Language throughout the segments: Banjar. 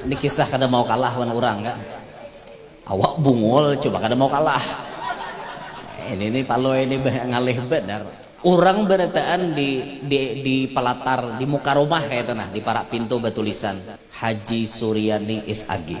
Ini kisah kada mau kalah wan urang kan. Awak bungul coba kada mau kalah. Ini ini palui ini ngalih benar. Urang barataan di di di palatar di muka rumah kaya itu nah di parak pintu batulisan Haji Suryani SAG.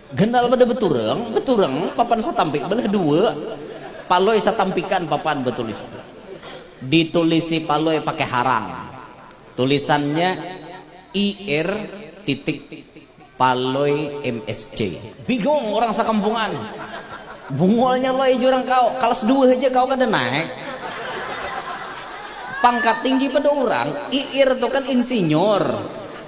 Ganal pada beturang, beturang papan satampik belah dua, Palui satampikan papan betulis. Ditulisi Palui pakai harang. Tulisannya IR titik Palui MSC. Bingung orang sakampungan. Bungolnya Loi jurang kau, kalas dua haja kau kada naik. Pangkat tinggi pada urang, IR tu kan insinyur.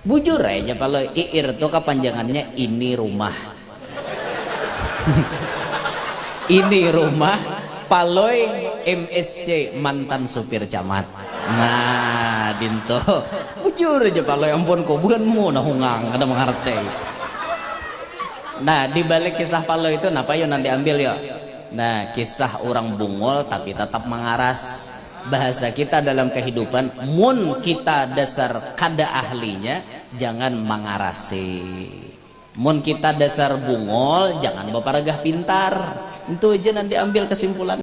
Bujur ai ja kalo iir tu kapanjangannya ini rumah. Ini rumah Palui msc mantan supir camat. Nah dintu. Bujur ja palui ampun ku buhan mu nah hungang kada mangartei. Nah dibalik kisah palui tu napa yu nang diambil yu? Nah kisah urang bungul tapi tatap mangaras. bahasa kita dalam kahidupan mun kita dasar kada ahlinya jangan mangarasi mun kita dasar bungol jangan baparagah pintar ntu ja nang diambil kasimpulan.